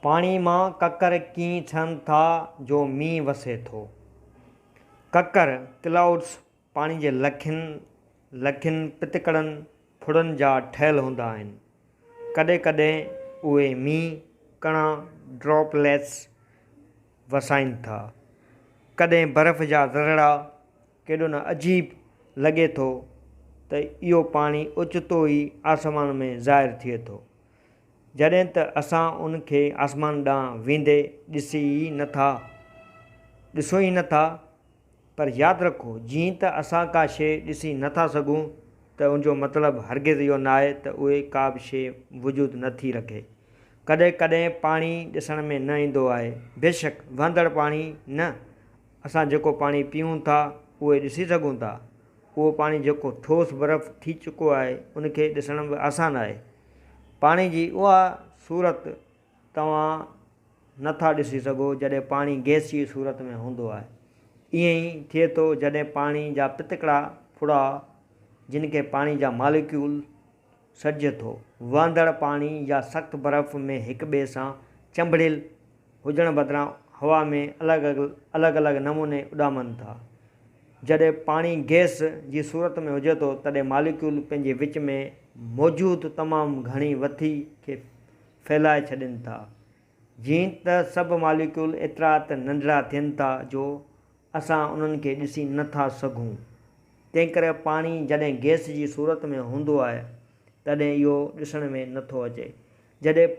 پاڻي مان ڪڪر ڪيئن ٿين ٿا جو مينهن وسي ٿو. ڪڪر، Clouds، پاڻي جي لکين لکين پتڪڙن ڦڙن جا ٺهيل هوندا آهن. ڪڏهن ڪڏهن اهي مينهن ڪڻا، Droplets، وسائين ٿا. ڪڏهن برف جا ذرڙا، ڪيڏو نه عجيب لڳي ٿو ته اهو پاڻي اوچتو ئي آسمان ۾ ظاهر ٿئي ٿو. جڏهن ته اسان ان کي آسمان ڏانهن ويندي ڏسي ئي نه ٿا ڏسون ئي نه ٿا پر ياد رکو جيئن ته اسان ڪا شيء ڏسي نه ٿا سگهون ته ان جو مطلب هرگز اهو ناهي ته اهي ڪا به شيء وجود نه ٿي رکي ڪڏهن ڪڏهن پاڻي ڏسڻ ۾ نه ايندو آهي بيشڪ وهندڙ پاڻي نه اسان جيڪو پاڻي پيئون ٿا اهي ڏسي سگهون ٿا اهو پاڻي جيڪو ٺوس برف ٿي چڪو آهي ان کي ڏسڻ به آسان آهي. پاڻي جي اها صورت توهان نه ٿا ڏسي سگهو جڏهن پاڻي گئس جي صورت ۾ هوندو آهي. ائين ئي ٿئي ٿو جڏهن پاڻي جا پتڪڙا ڦڙا جن کي پاڻي جا ماليڪيول، سڏجي ٿو. وهندڙ پاڻي يا سخت برف ۾ هڪ ٻئي سان چنبڙيل هجڻ بدران هوا ۾ الڳ الڳ الڳ نموني اڏامن ٿا. جڏهن پاڻي گئس جي صورت ۾ هجي ٿو تڏهن ماليڪيول پنهنجي وچ ۾ موجود تمام گهڻي وٿي کي ڦهلائي ڇڏين ٿا. جيئن ته سڀ ماليڪيول ايترا ته ننڍڙا ٿين ٿا جو اسان انهن کي ڏسي نه ٿا سگهون. تنهنڪري پاڻي جڏهن گئس جي صورت ۾ هوندو آهي تڏهن اهو ڏسڻ ۾ نه ٿو اچي. جڏهن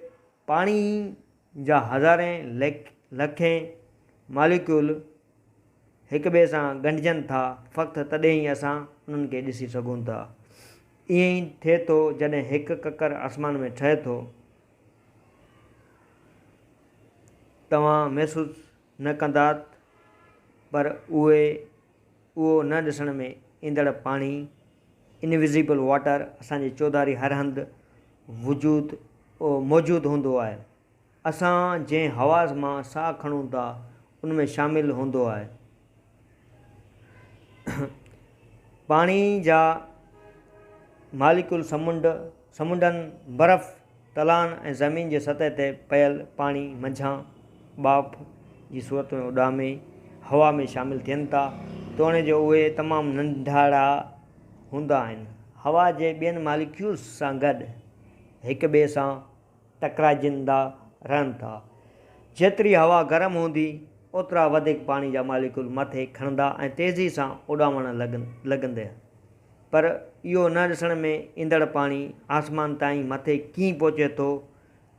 پاڻي جا هزارين لکين ماليڪيول هڪٻئي سان ڳنڍجن ٿا فقط تڏهن ئي اسان انهن کي ڏسي سگهون ٿا. ائين ئي ٿئي ٿو جڏهن هڪ ڪڪر آسمان ۾ ٺهي ٿو. توهان محسوس نه ڪندات پر اهي اهو نه ڏسڻ ۾ ايندڙ پاڻي، Invisible Water، اسان جي چوڌاري هر هنڌ وجود موجود هوندو آهي. اسان جنهن حواس مان ساهه کڻون ٿا ان ۾ شامل هوندو آهي. پاڻي جا ماليڪول سمنڊ، سمنڊن، برف، تلائن ۽ زمين جي سطح تي پيل پاڻي منجهان ٻاڦ جي صورت ۾ اڏامي هوا ۾ شامل ٿين ٿا، توڻي جو اهي تمام ننڍڙا هوندا آهن. هوا جي ٻين ماليڪيولز سان گڏ هڪٻئي سان ٽڪرائجندا رهن ٿا. جيتري هوا گرم هوندي، اوترا وڌيڪ پاڻي جا ماليڪول مٿي کڻندا ۽ تيزي سان اڏامڻ لڳندي. پر اهو نه ڏسڻ ۾ ايندڙ پاڻي آسمان تائين مٿي ڪيئن پهچي ٿو،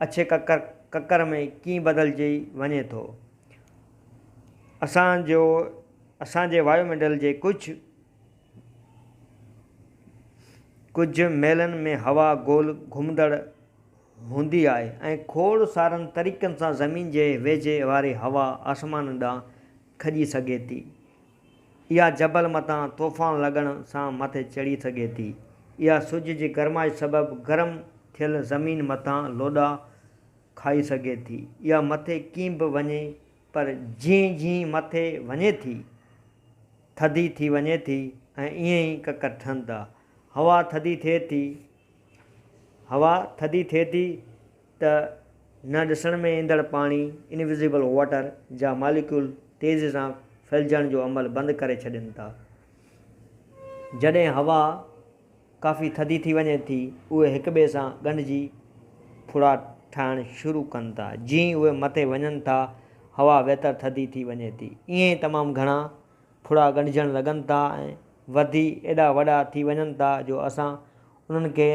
اڇي ڪڪر ڪڪر ۾ ڪيئن بدلجي وڃي ٿو. اسان جو اسان جي وايو منڊل جي ڪجهه. ڪجهه ميلن ۾ هوا گول گهمندڙ هوندي آهي ۽ کوڙ سارن طريقن سان زمين جي ويجهي واري هوا آسمان ڏانهن کڄي سگهي ٿي. اها جبل مٿان طوفان لڳڻ سان مٿي چڙهي سگهي ٿي. اها سج جي گرمائش سبب گرم ٿيل زمين مٿان لوڏا کائي سگهي ٿي. اها مٿي ڪين به وڃي پر جيئن جيئن مٿي وڃي ٿي، ٿڌي ٿي وڃي ٿي ۽ ائين ئي ڪڪر ٺھن ٿا. ھوا ٿڌي ٿئي ٿي ھوا ٿڌي ٿئي ٿي ته نه ڏسڻ ۾ ايندڙ پاڻي، Invisible Water، جا ماليڪيول تيزي سان ڦھلجڻ جو عمل بند ڪري ڇڏين ٿا. جڏھن ھوا. ڪافي ٿڌي ٿي وڃي ٿي، اهي هڪ ٻئي سان ڳنڍجي ڦڙا ٺاهڻ شروع ڪن ٿا. جيئن ئي اهي مٿي وڃن ٿا، هوا ويتر ٿڌي ٿي وڃي ٿي. ائين ئي تمام گهڻا ڦڙا ڳنڍجڻ لڳن ٿا ۽ وڌي ايڏا وڏا ٿي وڃن ٿا جو اسان انهن کي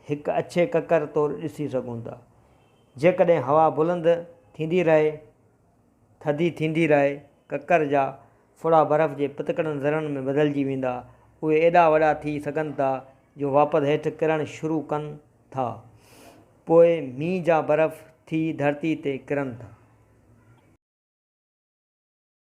هڪ اڇي ڪڪر طور ڏسي سگهون ٿا. جيڪڏهن هوا بلند ٿيندي رهي، ٿڌي ٿيندي رهي، ڪڪر جا ڦڙا برف جي پتڪڙن ذرن ۾ بدلجي ويندا. اهي ايڏا وڏا ٿي سگهن ٿا جو واپد هيٺ ڪرڻ شروع ڪن ٿا. پوء مينهن جا برف ٿي ڌرتي تي ڪرن ٿا.